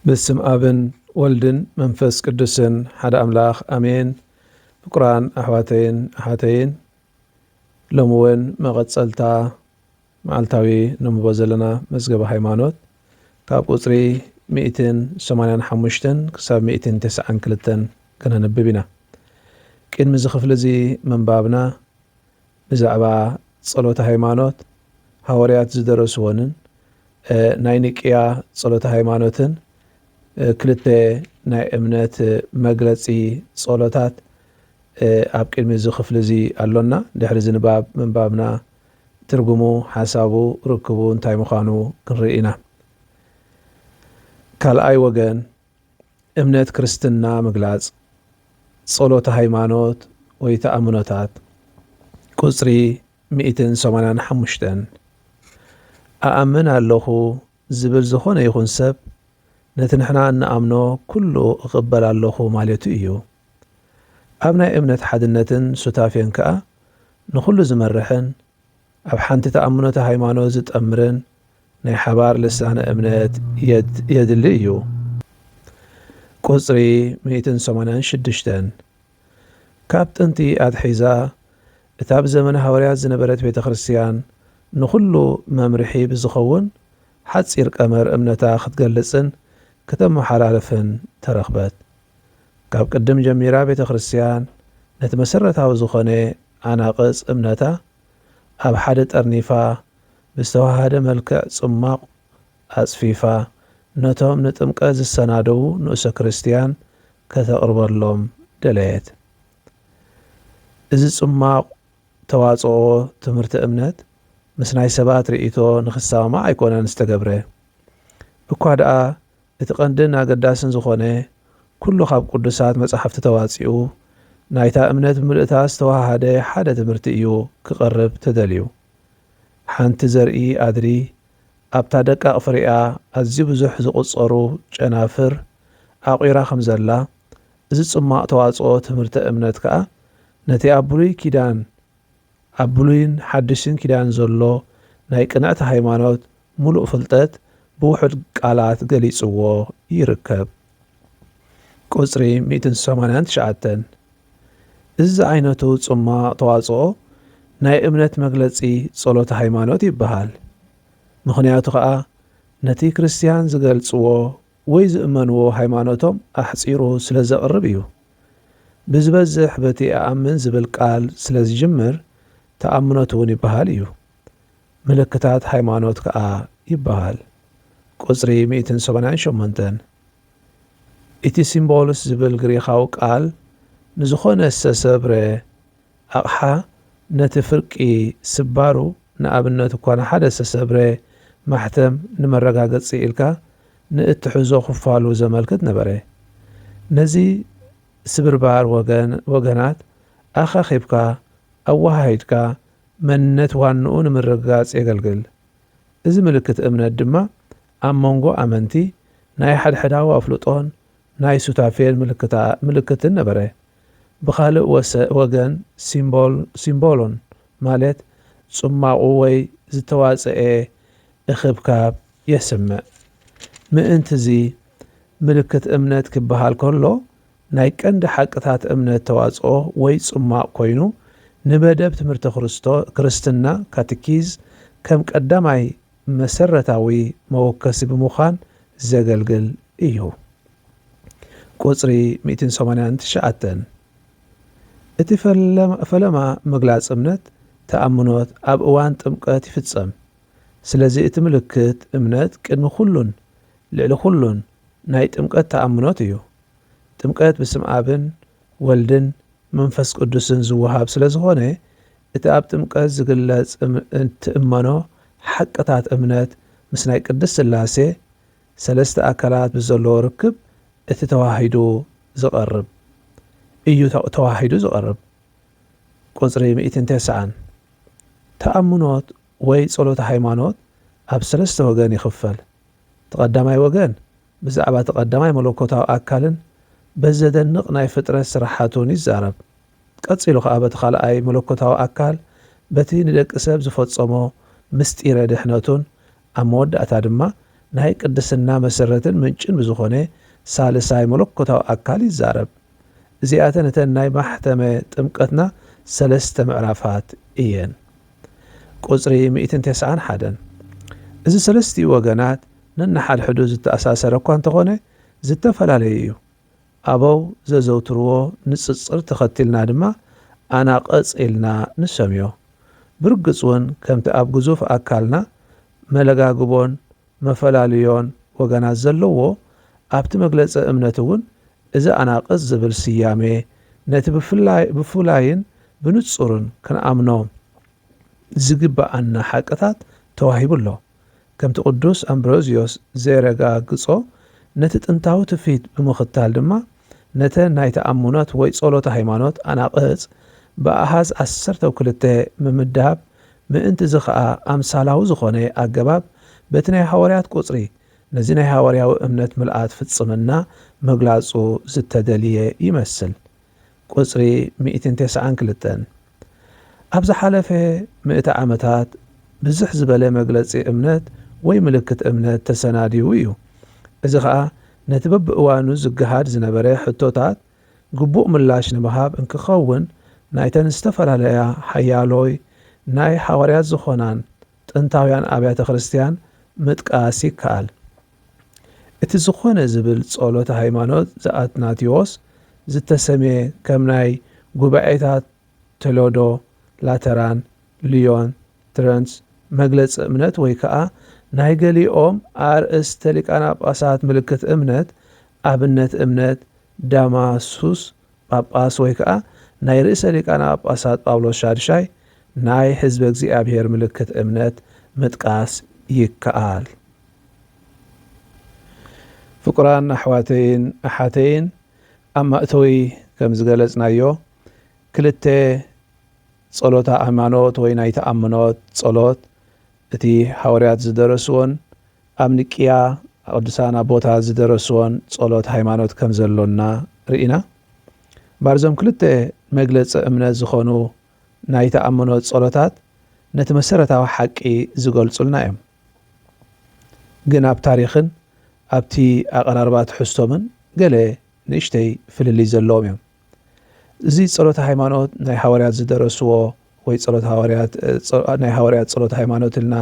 ብስም ኣብን ወልድን መንፈስ ቅዱስን ሓደ ኣምላኽ ኣሜን። ፍቁራን ኣሕዋተይን ኣሓተይን ሎሚ እውን መቐፀልታ መዓልታዊ ነንብቦ ዘለና መዝገበ ሃይማኖት ካብ ቁጽሪ ሚእትን ሰማንያን ሓሙሽተን ክሳብ ሚእትን ተሰዓን ክልተን ከነንብብ ኢና። ቂድሚ እዚ ክፍሊ እዚ ምንባብና ብዛዕባ ጸሎተ ሃይማኖት ሃወርያት ዝደረስዎንን ናይ ኒቅያ ጸሎተ ሃይማኖትን ክልተ ናይ እምነት መግለጺ ጸሎታት ኣብ ቂድሚ እዚ ክፍሊ እዚ ኣሎና ድሕሪ እዚ ንባብ ምንባብና ትርጉሙ፣ ሓሳቡ፣ ርክቡ እንታይ ምዃኑ ክንርኢ ኢና። ካልኣይ ወገን፣ እምነት ክርስትና ምግላጽ፣ ጸሎተ ሃይማኖት ወይ ተኣምኖታት፣ ቁጽሪ ሚእትን ሰማንያን ሓሙሽተን፣ እኣምን ኣሎኹ ዝብል ዝኾነ ይኹን ሰብ ነቲ ንሕና እንኣምኖ ኩሉ እቕበል ኣሎኹ ማለቱ እዩ። ኣብ ናይ እምነት ሓድነትን ሱታፌን ከኣ ንኹሉ ዝመርሕን ኣብ ሓንቲ ተኣምኖተ ሃይማኖት ዝጠምርን ናይ ሓባር ልሳነ እምነት የድሊ እዩ። ቁጽሪ ሚእትን ሰማንያን ሽዱሽተን ካብ ጥንቲ ኣትሒዛ እታ ብዘመነ ሃዋርያት ዝነበረት ቤተ ክርስቲያን ንኹሉ መምርሒ ብዝኸውን ሓጺር ቀመር እምነታ ክትገልጽን ክተመሓላልፍን ተረኽበት። ካብ ቅድም ጀሚራ ቤተ ክርስቲያን ነቲ መሰረታዊ ዝኾነ ኣናቕጽ እምነታ ኣብ ሓደ ጠርኒፋ ብዝተወሃሃደ መልክዕ ጽሟቕ ኣጽፊፋ ነቶም ንጥምቀት ዝሰናደዉ ንኡሰ ክርስቲያን ከተቕርበሎም ደለየት። እዚ ጽሟቕ ተዋጽኦ ትምህርተ እምነት ምስ ናይ ሰባት ርእይቶ ንኽሰማማዕ ኣይኮነን ዝተገብረ እኳ ደኣ እቲ ቀንድን ኣገዳስን ዝኾነ ኩሉ ካብ ቅዱሳት መጻሕፍቲ ተዋጺኡ ናይታ እምነት ብምልእታ ዝተወሃሃደ ሓደ ትምህርቲ እዩ ክቐርብ ተደልዩ። ሓንቲ ዘርኢ ኣድሪ ኣብታ ደቃቕ ፍሬኣ ኣዝዩ ብዙሕ ዝቑጸሩ ጨናፍር ኣቑራ ከም ዘላ፣ እዚ ጽሟቕ ተዋጽኦ ትምህርተ እምነት ከኣ ነቲ ኣብ ብሉይ ኪዳን ኣብ ብሉይን ሓድሽን ኪዳን ዘሎ ናይ ቅንዕቲ ሃይማኖት ምሉእ ፍልጠት ብውሑድ ቃላት ገሊጽዎ ይርከብ። ቁጽሪ ሚእትን ሰማንያን ትሽዓተን። እዚ ዝዓይነቱ ጽሟቕ ተዋጽኦ ናይ እምነት መግለጺ ጸሎተ ሃይማኖት ይበሃል። ምኽንያቱ ከኣ ነቲ ክርስትያን ዝገልጽዎ ወይ ዝእመንዎ ሃይማኖቶም ኣሕጺሩ ስለ ዘቕርብ እዩ። ብዝበዝሕ በቲ እኣምን ዝብል ቃል ስለ ዝጅምር ተኣምኖት እውን ይበሃል እዩ። ምልክታት ሃይማኖት ከኣ ይበሃል፣ ቁጽሪ ሚእትን ሰማንያን ሸሞንተን። እቲ ሲምቦልስ ዝብል ግሪኻዊ ቃል ንዝኾነ ዝተሰብረ፣ ኣቕሓ ነቲ ፍርቂ ስባሩ፣ ንኣብነት እኳ ንሓደ ዝተሰብረ ማሕተም ንመረጋገጺ ኢልካ ንእትሕዞ ክፋሉ ዘመልክት ነበረ። ነዚ ስብርባር ወገን ወገናት ኣኻኺብካ ኣወሃሂድካ መንነት ዋንኡ ንምርግጋጽ የገልግል። እዚ ምልክት እምነት ድማ ኣብ መንጎ ኣመንቲ ናይ ሓድሕዳዊ ኣፍልጦን ናይ ሱታፌን ምልክታ ምልክትን ነበረ። ብኻልእ ወሰ ወገን ሲምቦል ሲምቦሎን ማለት ጽማቝ ወይ ዝተዋጽኤ እኽብካብ የስምዕ። ምእንትዚ ምልክት እምነት ኪብሃል ከሎ ናይ ቀንዲ ሓቅታት እምነት ተዋጽኦ ወይ ጽማቝ ኮይኑ ንመደብ ትምህርተ ክርስቶ ክርስትና ካትኪዝ ከም ቀዳማይ መሰረታዊ መወከሲ ብምዃን ዘገልግል እዩ። ቁጽሪ ሚእትን ሰማንያን ትሽዓተን፣ እቲ ፈለማ ምግላጽ እምነት፣ ተኣምኖት፣ ኣብ እዋን ጥምቀት ይፍጸም። ስለዚ እቲ ምልክት እምነት ቅድሚ ኩሉን ልዕሊ ኩሉን ናይ ጥምቀት ተኣምኖት እዩ። ጥምቀት ብስም ኣብን ወልድን መንፈስ ቅዱስን ዝወሃብ ስለ ዝኾነ እቲ ኣብ ጥምቀት ዝግለጽ እትእመኖ ሓቅታት እምነት ምስ ናይ ቅድስት ሥላሴ ሠለስተ ኣካላት ምስ ዘለዎ ርክብ እቲ ተዋሂዱ ዝቐርብ እዩ ተዋሂዱ ዝቐርብ ቁጽሪ ሚእትን ተስዓን ተኣምኖት ወይ ጸሎተ ሃይማኖት ኣብ ሠለስተ ወገን ይኽፈል። እቲ ቀዳማይ ወገን ብዛዕባ እቲ ቀዳማይ መለኮታዊ ኣካልን በቲ ዘደንቕ ናይ ፍጥረት ስራሓቱን ይዛረብ። ቀጺሉ ኸኣ በቲ ኻልኣይ መለኮታዊ ኣካል በቲ ንደቂ ሰብ ዝፈጸሞ ምሥጢረ ድኅነቱን ኣብ መወዳእታ ድማ ናይ ቅድስና መሠረትን ምንጭን ብዝኾነ ሣልሳይ መለኮታዊ ኣካል ይዛረብ። እዚኣተን እተን ናይ ማሕተመ ጥምቀትና ሰለስተ ምዕራፋት እየን። ቁጽሪ ሚእትን ተስዓን ሓደን። እዚ ሰለስቲኡ ወገናት ነንሓድሕዱ ዝተኣሳሰረ እኳ እንተኾነ ዝተፈላለየ እዩ። ኣበው ዘዘውትርዎ ንጽጽር ተኸቲልና ድማ ኣናቕጽ ኢልና ንሰምዮ። ብርግጽ ውን ከምቲ ኣብ ግዙፍ ኣካልና መለጋግቦን መፈላልዮን ወገናት ዘለዎ ኣብቲ መግለጸ እምነት እውን እዚ ኣናቅጽ ዝብል ስያሜ ነቲ ብፍላይ ብፉላይን ብንጹርን ክንኣምኖ ዝግበኣና ሓቅታት ተዋሂቡ ኣሎ። ከምቲ ቅዱስ ኣምብሮዝዮስ ዜረጋግጾ ነቲ ጥንታዊ ትውፊት ብምኽታል ድማ፣ ነተን ናይ ተኣምኖት ወይ ጸሎተ ሃይማኖት ኣናቕጽ ብኣሃዝ ዓሰርተው ክልተ ምምዳብ ምእንቲ እዚ ኸኣ ኣምሳላዊ ዝኾነ ኣገባብ በቲ ናይ ሃዋርያት ቁጽሪ ነዚ ናይ ሃዋርያዊ እምነት ምልኣት ፍጽምና ምግላጹ ዝተደልየ ይመስል ቁጽሪ ሚእትን ተስዓን ክልተን። ኣብ ዝሓለፈ ምእተ ዓመታት ብዝሕ ዝበለ መግለጺ እምነት ወይ ምልክት እምነት ተሰናዲዉ እዩ፣ እዚ ኸኣ ነቲ በብእዋኑ ዝገሃድ ዝነበረ ሕቶታት ግቡእ ምላሽ ንምሃብ እንኪኸውን ናይተን ዝተፈላለያ ሓያሎይ ናይ ሓዋርያት ዝኾናን ጥንታውያን ኣብያተ ክርስትያን ምጥቃስ ይከኣል። እቲ ዝኾነ ዝብል ጸሎተ ሃይማኖት ዘኣትናቴዎስ ዝተሰምየ ከም ናይ ጉባኤታት ቶለዶ፣ ላተራን፣ ልዮን፣ ትረንስ መግለጺ እምነት ወይ ከኣ ናይ ገሊኦም ኣርእስተ ሊቃነ ጳጳሳት ምልክት እምነት፣ ኣብነት እምነት ዳማሱስ ጳጳስ ወይ ከኣ ናይ ርእሰ ሊቃነ ጳጳሳት ጳውሎስ ሻድሻይ ናይ ሕዝበ እግዚኣብሔር ምልክት እምነት ምጥቃስ ይከኣል። ፍቁራን ኣሕዋተይን ኣሓተይን ኣብ ማእቶዊ ከም ዝገለጽናዮ ክልተ ጸሎተ ኣማኖት ወይ ናይ ተኣምኖት ጸሎት እቲ ሃወርያት ዝደረስዎን ኣብ ንቅያ ቅዱሳን ኣቦታት ዝደረስዎን ጸሎት ሃይማኖት ከም ዘሎና ርኢና ባርዞም ክልተ መግለጺ እምነት ዝኾኑ ናይ ተኣምኖት ጸሎታት ነቲ መሰረታዊ ሓቂ ዝገልጹልና እዮም። ግን ኣብ ታሪኽን ኣብቲ ኣቐራርባ ትሕዝቶምን ገለ ንእሽተይ ፍልልይ ዘለዎም እዮም። እዚ ጸሎተ ሃይማኖት ናይ ሃዋርያት ዝደረስዎ ወይ ጸሎት ሃዋርያት ናይ ሃዋርያት ጸሎት ሃይማኖት ኢልና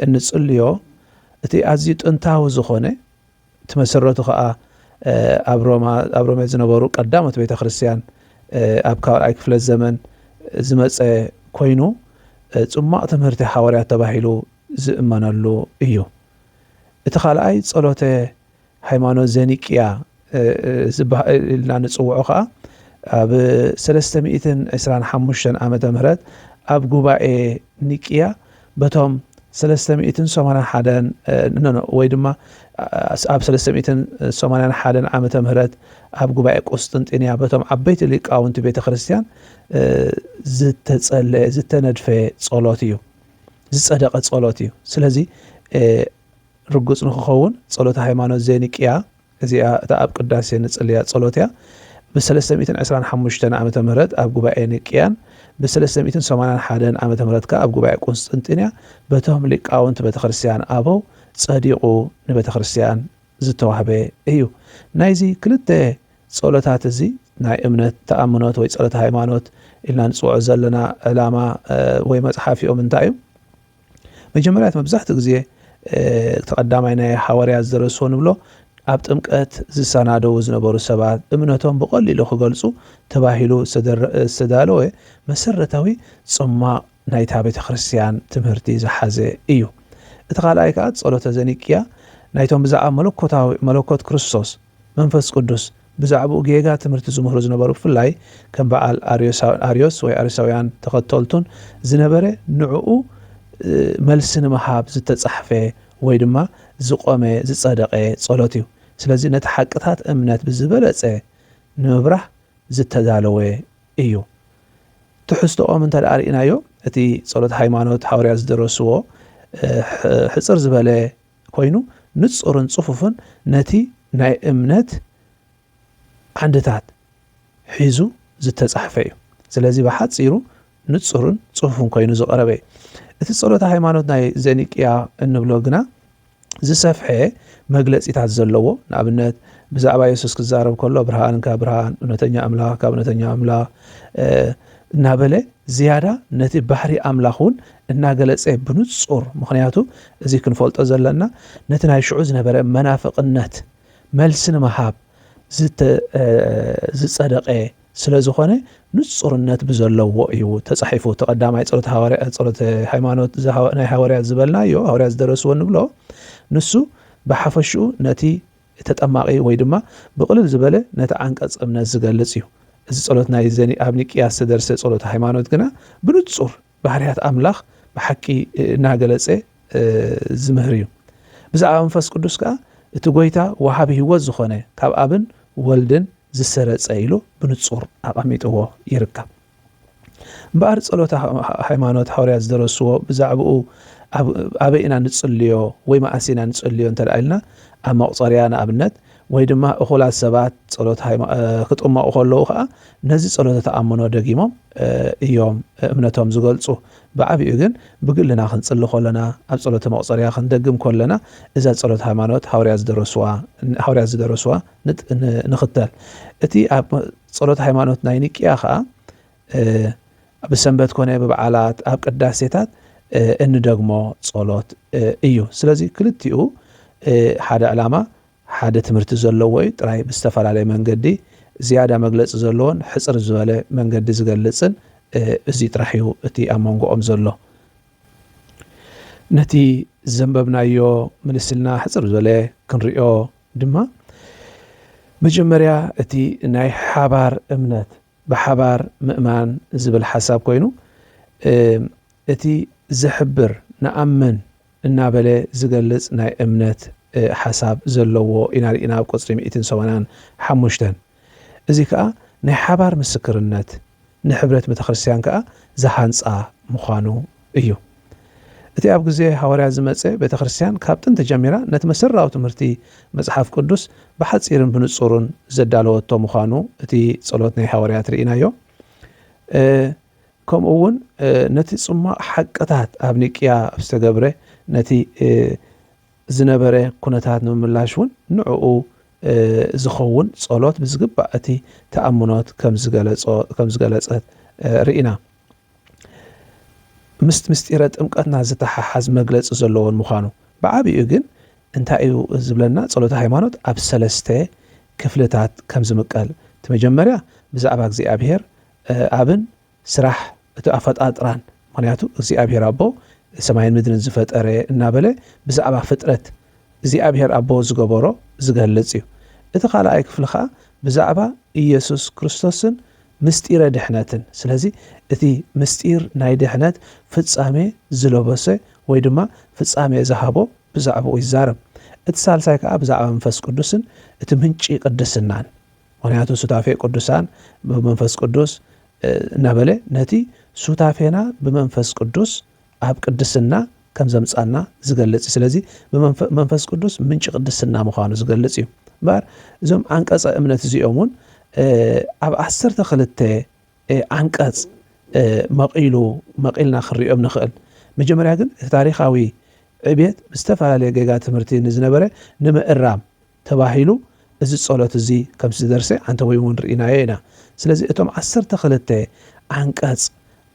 እንጽልዮ እቲ ኣዝዩ ጥንታዊ ዝኾነ እቲ መሰረቱ ከኣ ኣብ ሮማ ኣብ ሮሜ ዝነበሩ ቀዳሞት ቤተ ክርስቲያን ኣብ ካልኣይ ክፍለ ዘመን ዝመጸ ኮይኑ ጽሟቕ ትምህርቲ ሓዋርያት ተባሂሉ ዝእመነሉ እዩ። እቲ ካልኣይ ጸሎተ ሃይማኖት ዘኒቅያ ኢልና ንጽውዖ ከኣ ኣብ ሰለስተ ሚእትን ዕስራን ሓሙሽተን ዓመተ ምህረት ኣብ ጉባኤ ኒቅያ በቶም ሰለስተ ሚእትን ሰማንያን ሓደን ኖኖ ወይ ድማ ኣብ ሰለስተ ሚእትን ሰማንያን ሓደን ዓመተ ምህረት ኣብ ጉባኤ ቁስጥንጢንያ በቶም ዓበይቲ ሊቃውንቲ ቤተ ክርስቲያን ዝተጸለየ ዝተነድፈ ጸሎት እዩ ዝጸደቐ ጸሎት እዩ ስለዚ ርጉጽ ንክኸውን ጸሎት ሃይማኖት ዜኒቅያ እዚኣ እታ ኣብ ቅዳሴ ንጽልያ ጸሎት እያ። ብ ሰለስተ ሚእትን ዕስራን ሓሙሽተን ዓመተ ምህረት ኣብ ጉባኤ ኒቅያን ብ ሰለስተ ሚእትን ሰማንያን ሓደን ዓመተ ምህረት ከኣ ኣብ ጉባኤ ቁንስጥንጥንያ በቶም ሊቃውንት ቤተክርስትያን ኣበው ጸዲቁ ንቤተክርስትያን ዝተዋህበ እዩ። ናይዚ ክልተ ጸሎታት እዚ ናይ እምነት ተኣምኖት ወይ ጸሎተ ሃይማኖት ኢልና ንጽውዖ ዘለና ዕላማ ወይ መጽሓፊኦም እንታይ እዩ? መጀመርያ መብዛሕትኡ ግዜ እቲ ቀዳማይ ናይ ሃዋርያት ዘርእስቶ ንብሎ ኣብ ጥምቀት ዝሰናደዉ ዝነበሩ ሰባት እምነቶም ብቐሊሉ ክገልጹ ተባሂሉ ዝተዳለወ መሰረታዊ ጽማቕ ናይታ ቤተ ክርስትያን ትምህርቲ ዝሓዘ እዩ። እቲ ካልኣይ ከኣ ጸሎተ ዘኒቅያ ናይቶም ብዛዕባ መለኮት ክርስቶስ መንፈስ ቅዱስ ብዛዕባኡ ጌጋ ትምህርቲ ዝምህሩ ዝነበሩ ብፍላይ ከም በዓል ኣርዮስ ወይ ኣርዮሳውያን ተኸተልቱን ዝነበረ ንዕኡ መልሲ ንምሃብ ዝተጻሕፈ ወይ ድማ ዝቆመ ዝጸደቐ ጸሎት እዩ። ስለዚ ነቲ ሓቅታት እምነት ብዝበለጸ ንምብራህ ዝተዳለወ እዩ። ትሕዝቶኦም እንተደኣ ርኢናዮ እቲ ጸሎት ሃይማኖት ሃዋርያት ዝደረስዎ ሕጽር ዝበለ ኮይኑ ንጹርን ጽፉፍን ነቲ ናይ እምነት ዓንድታት ሒዙ ዝተጻሕፈ እዩ። ስለዚ ብሓጺሩ ንጹርን ጽፉፍን ኮይኑ ዝቐረበ እዩ። እቲ ጸሎተ ሃይማኖት ናይ ዘኒቅያ እንብሎ ግና ዝሰፍሐ መግለጺታት ዘለዎ ንኣብነት ብዛዕባ የሱስ ክዛረብ ከሎ ብርሃን ካብ ብርሃን እውነተኛ ኣምላኽ ካብ እውነተኛ ኣምላኽ እናበለ ዝያዳ ነቲ ባህሪ ኣምላኽ እውን እናገለጸ ብንጹር ምኽንያቱ እዚ ክንፈልጦ ዘለና ነቲ ናይ ሽዑ ዝነበረ መናፍቕነት መልሲ ንምሃብ ዝጸደቐ ስለ ዝኾነ ንጹርነት ብዘለዎ እዩ ተጻሒፉ። እቲ ቀዳማይ ጸሎት ሃዋርያ ጸሎት ሃይማኖት ናይ ሃዋርያት ዝበልናዮ ሃዋርያት ዝደረስዎ ንብሎ ንሱ ብሓፈሽኡ ነቲ ተጠማቂ ወይ ድማ ብቕልል ዝበለ ነቲ ዓንቀጽ እምነት ዝገልጽ እዩ እዚ ጸሎት ናይ ዘኒ ኣብ ኒቅያ ዝተደርሰ ጸሎት ሃይማኖት ግና ብንጹር ባህርያት ኣምላኽ ብሓቂ እናገለጸ ዚምህር እዩ። ብዛዕባ መንፈስ ቅዱስ ከኣ እቲ ጐይታ ወሃቢ ህይወት ዝኾነ ካብ ኣብን ወልድን ዝሰረጸ ኢሉ ብንጹር ኣቐሚጥዎ ይርከብ። እምበኣር ጸሎተ ሃይማኖት ሃዋርያት ዝደረስዎ ብዛዕባኡ ኣበይ ኢና ንጽልዮ ወይ መኣስ ኢና ንጽልዮ እንተ ኢልና ኣብ መቑጸርያ ንኣብነት ወይ ድማ እኹላት ሰባት ጸሎት ክጥመቑ ከለዉ ኸኣ ነዚ ጸሎተ ተኣምኖ ደጊሞም እዮም እምነቶም ዝገልጹ። ብዓቢኡ ግን ብግልና ክንጽሊ ከሎና፣ ኣብ ጸሎተ መቑጸርያ ክንደግም ከሎና እዛ ጸሎት ሃይማኖት ሃውርያት ዝደረስዋ ሃውርያት ዝደረስዋ ንኽተል። እቲ ኣብ ጸሎት ሃይማኖት ናይ ኒቅያ ኸኣ ብሰንበት ኮነ ብበዓላት ኣብ ቅዳሴታት እንደግሞ ጸሎት እዩ። ስለዚ ክልቲኡ ሓደ ዕላማ ሓደ ትምህርቲ ዘለዎ እዩ፣ ጥራይ ብዝተፈላለየ መንገዲ ዝያዳ መግለጺ ዘለዎን ሕጽር ዝበለ መንገዲ ዝገልጽን እዚ ጥራሕ እዩ እቲ ኣብ መንጎኦም ዘሎ። ነቲ ዘንበብናዮ ምልስልና ሕጽር ዝበለ ክንሪኦ ድማ መጀመርያ እቲ ናይ ሓባር እምነት ብሓባር ምእማን ዝብል ሓሳብ ኮይኑ እቲ ዝሕብር ንኣምን እናበለ ዝገልጽ ናይ እምነት ሓሳብ ዘለዎ ኢና ርኢና ኣብ ቁጽሪ ሚእትን ሰወናን ሓሙሽተን። እዚ ከኣ ናይ ሓባር ምስክርነት ንሕብረት ቤተክርስትያን ከኣ ዝሃንጻ ምዃኑ እዩ። እቲ ኣብ ግዜ ሃዋርያት ዝመጸ ቤተ ክርስቲያን ካብ ጥንቲ ጀሚራ ነቲ መሰረታዊ ትምህርቲ መጽሓፍ ቅዱስ ብሓጺርን ብንጹሩን ዘዳለወቶ ምዃኑ እቲ ጸሎት ናይ ሃዋርያት ርኢናዮ። ከምኡ እውን ነቲ ጽሟቕ ሓቅታት ኣብ ኒቅያ ኣብ ዝተገብረ ነቲ ዝነበረ ኩነታት ንምምላሽ እውን ንዕኡ ዝኸውን ጸሎት ብዝግባእ እቲ ተኣምኖት ከም ዝገለጸት ርኢና። ምስ ምስጢረ ጥምቀትና ዝተሓሓዝ መግለፂ ዘለዎን ምዃኑ ብዓብይኡ ግን እንታይ እዩ ዝብለና ፀሎተ ሃይማኖት ኣብ ሰለስተ ክፍልታት ከም ዝምቀል እቲ መጀመርያ ብዛዕባ እግዚኣብሔር ኣብን ስራሕ እቲ ኣፈጣጥራን ምክንያቱ እግዚኣብሔር ኣቦ ሰማይን ምድርን ዝፈጠረ እናበለ ብዛዕባ ፍጥረት እግዚኣብሔር ኣቦ ዝገበሮ ዝገልጽ እዩ። እቲ ካልኣይ ክፍሊ ከኣ ብዛዕባ ኢየሱስ ክርስቶስን ምሥጢረ ድኅነትን ስለዚ እቲ ምሥጢር ናይ ድኅነት ፍጻሜ ዝለበሰ ወይ ድማ ፍጻሜ ዝሃቦ ብዛዕባኡ ይዛረብ። እቲ ሣልሳይ ከኣ ብዛዕባ መንፈስ ቅዱስን እቲ ምንጪ ቅድስናን ምኽንያቱ ሱታፌ ቅዱሳን ብመንፈስ ቅዱስ እናበለ ነቲ ሱታፌና ብመንፈስ ቅዱስ ኣብ ቅድስና ከም ዘምጻና ዝገልጽ እዩ። ስለዚ መንፈስ ቅዱስ ምንጪ ቅድስና ምዃኑ ዝገልጽ እዩ። እምበኣር እዞም ዓንቀጸ እምነት እዚኦም እውን ኣብ ዓሰርተ ክልተ ዓንቀጽ መቒሉ መቒልና ክንሪኦም ንኽእል። መጀመርያ ግን እቲ ታሪኻዊ ዕብየት ብዝተፈላለየ ጌጋ ትምህርቲ ንዝነበረ ንምእራም ተባሂሉ እዚ ጸሎት እዚ ከም ዝተደርሰ ኣንተወይ እውን ርኢናዮ ኢና። ስለዚ እቶም ዓሰርተ ክልተ ዓንቀጽ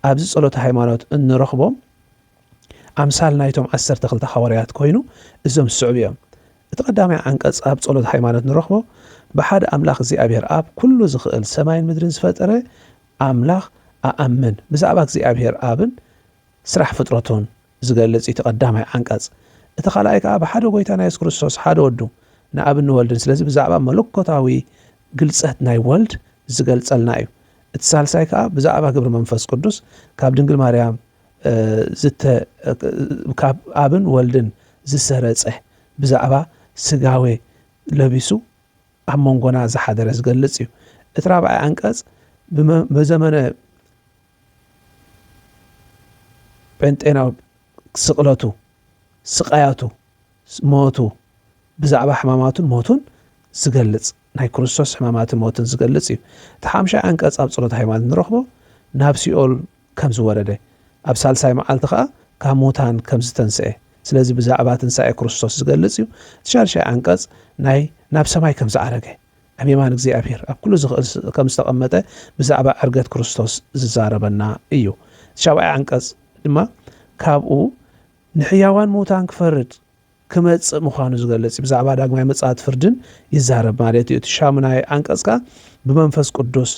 ኣብዚ ጸሎተ ሃይማኖት እንረኽቦም ኣምሳል ናይቶም ዓሰርተ ክልተ ሃዋርያት ኮይኑ እዞም ዝስዕቡ እዮም። እቲ ቀዳማይ ዓንቀጽ ኣብ ጸሎተ ሃይማኖት ንረኽቦ ብሓደ ኣምላኽ እግዚኣብሔር ኣብ ኩሉ ዝኽእል ሰማይን ምድርን ዝፈጠረ ኣምላኽ ኣኣምን ብዛዕባ እግዚኣብሔር ኣብን ስራሕ ፍጥረቱን ዝገልጽ እዩ እቲ ቀዳማይ ዓንቀጽ። እቲ ካልኣይ ከኣ ብሓደ ጎይታና የሱስ ክርስቶስ ሓደ ወዱ ንኣብን ንወልድን ስለዚ ብዛዕባ መለኮታዊ ግልጸት ናይ ወልድ ዝገልጸልና እዩ። እቲ ሳልሳይ ከኣ ብዛዕባ ግብሪ መንፈስ ቅዱስ ካብ ድንግል ማርያም ዝተ ካብ ኣብን ወልድን ዝሰረጸ ብዛዕባ ስጋዌ ለቢሱ ኣብ መንጎና ዝሓደረ ዝገልጽ እዩ። እቲ ራብዓይ ዓንቀጽ ብዘመነ ጴንጤናዊ ስቕለቱ፣ ስቓያቱ፣ ሞቱ፣ ብዛዕባ ሕማማቱን ሞቱን ዝገልጽ ናይ ክርስቶስ ሕማማትን ሞትን ዝገልጽ እዩ። እቲ ሓምሻይ ዓንቀጽ ኣብ ጸሎተ ሃይማኖት ንረኽቦ ናብ ሲኦል ከም ዝወረደ ኣብ ሳልሳይ መዓልቲ ከኣ ካብ ሙታን ከም ዝተንስኤ ስለዚ ብዛዕባ ትንሳኤ ክርስቶስ ዝገልጽ እዩ። እቲ ሻድሻይ ዓንቀጽ ናይ ናብ ሰማይ ከም ዝዓረገ ኣብ የማን እግዚኣብሔር ኣብ ኩሉ ዝኽእል ከም ዝተቐመጠ ብዛዕባ ዕርገት ክርስቶስ ዝዛረበና እዩ። እቲ ሻብዓይ ዓንቀጽ ድማ ካብኡ ንሕያዋን ምዉታን ክፈርድ ክመጽእ ምዃኑ ዝገልጽ እዩ። ብዛዕባ ዳግማይ ምጽኣት ፍርድን ይዛረብ ማለት እዩ። እቲ ሻሙናይ ዓንቀጽ ከኣ ብመንፈስ ቅዱስ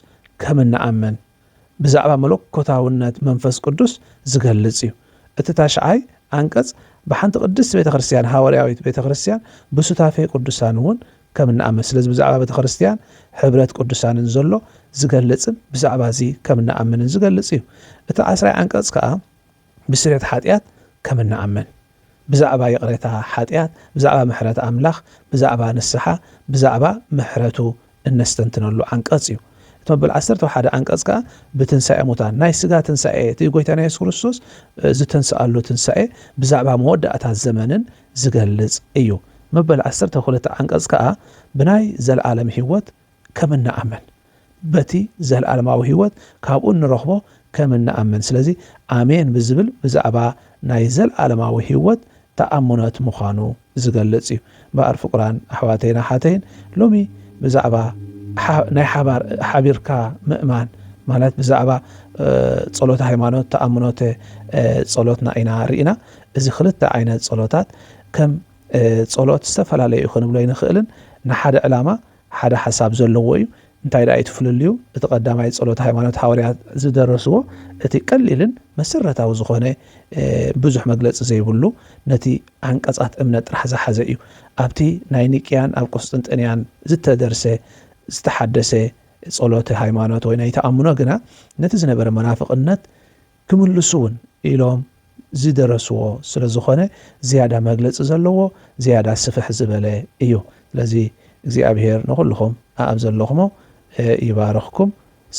ከም እንኣምን ብዛዕባ መለኮታውነት መንፈስ ቅዱስ ዚገልጽ እዩ። እቲ ታሽዓይ ዓንቀጽ ብሓንቲ ቅድስቲ ቤተ ክርስቲያን፣ ሃዋርያዊት ቤተ ክርስቲያን፣ ብሱታፌ ቅዱሳን እውን ከም እንኣምን፣ ስለዚ ብዛዕባ ቤተ ክርስቲያን ሕብረት ቅዱሳንን ዘሎ ዚገልጽን ብዛዕባ እዚ ከም እንኣምንን ዚገልጽ እዩ። እቲ ዓስራይ ዓንቀጽ ከኣ፣ ብስርየት ሓጢኣት ከም እንኣምን፣ ብዛዕባ ይቕሬታ ሓጢኣት፣ ብዛዕባ ምሕረት ኣምላኽ፣ ብዛዕባ ንስሓ፣ ብዛዕባ ምሕረቱ እነስተንትነሉ ዓንቀጽ እዩ። እቲ መበል ዓሰርተው ሓደ ዓንቀጽ ከኣ ብትንሳኤ ሙታን፣ ናይ ስጋ ትንሳኤ፣ እቲ ጎይታና የሱስ ክርስቶስ ዝተንስኣሉ ትንሳኤ፣ ብዛዕባ መወዳእታ ዘመንን ዝገልጽ እዩ። መበል ዓሰርተው ክልተ ዓንቀጽ ከኣ ብናይ ዘለኣለም ህይወት ከም እንኣምን፣ በቲ ዘለኣለማዊ ህይወት ካብኡ እንረኽቦ ከም እንኣምን ስለዚ ኣሜን ብዝብል ብዛዕባ ናይ ዘለኣለማዊ ህይወት ተኣምኖት ምዃኑ ዝገልጽ እዩ። እምበኣር ፍቁራን ኣሕዋተይን ኣሓተይን ሎሚ ብዛዕባ ናይ ሓባር ሓቢርካ ምእማን ማለት ብዛዕባ ጸሎተ ሃይማኖት ተኣምኖተ ጸሎትና ኢና ርኢና እዚ ክልተ ዓይነት ጸሎታት ከም ጸሎት ዝተፈላለዩ ክንብሎ ኣይንኽእልን ንሓደ ዕላማ ሓደ ሓሳብ ዘለዎ እዩ። እንታይ ደኣ እዩ እቲ ፍልልዩ? እቲ ቀዳማይ ጸሎተ ሃይማኖት ሃዋርያት ዝደረስዎ እቲ ቀሊልን መሰረታዊ ዝኾነ ብዙሕ መግለጺ ዘይብሉ ነቲ ዓንቀጻት እምነት ጥራሕ ዝሓዘ እዩ። ኣብቲ ናይ ኒቅያን ኣብ ቁስጥንጥንያን ዝተደርሰ ዝተሓደሰ ጸሎተ ሃይማኖት ወይ ናይ ተኣምኖ ግና ነቲ ዝነበረ መናፍቕነት ክምልሱ'ውን ኢሎም ዝደረስዎ ስለ ዝኾነ ዝያዳ መግለጺ ዘለዎ ዝያዳ ስፍሕ ዝበለ እዩ። ስለዚ እግዚኣብሄር ንኹልኹም ኣኣብ ዘለኹሞ ይባርኽኩም።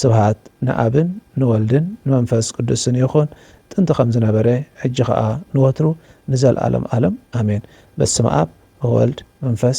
ስብሃት ንኣብን ንወልድን ንመንፈስ ቅዱስን ይኹን ጥንቲ ከም ዝነበረ ሕጂ ኸኣ ንወትሩ ንዘልኣለም ኣለም ኣሜን። በስመኣብ ወወልድ መንፈስ።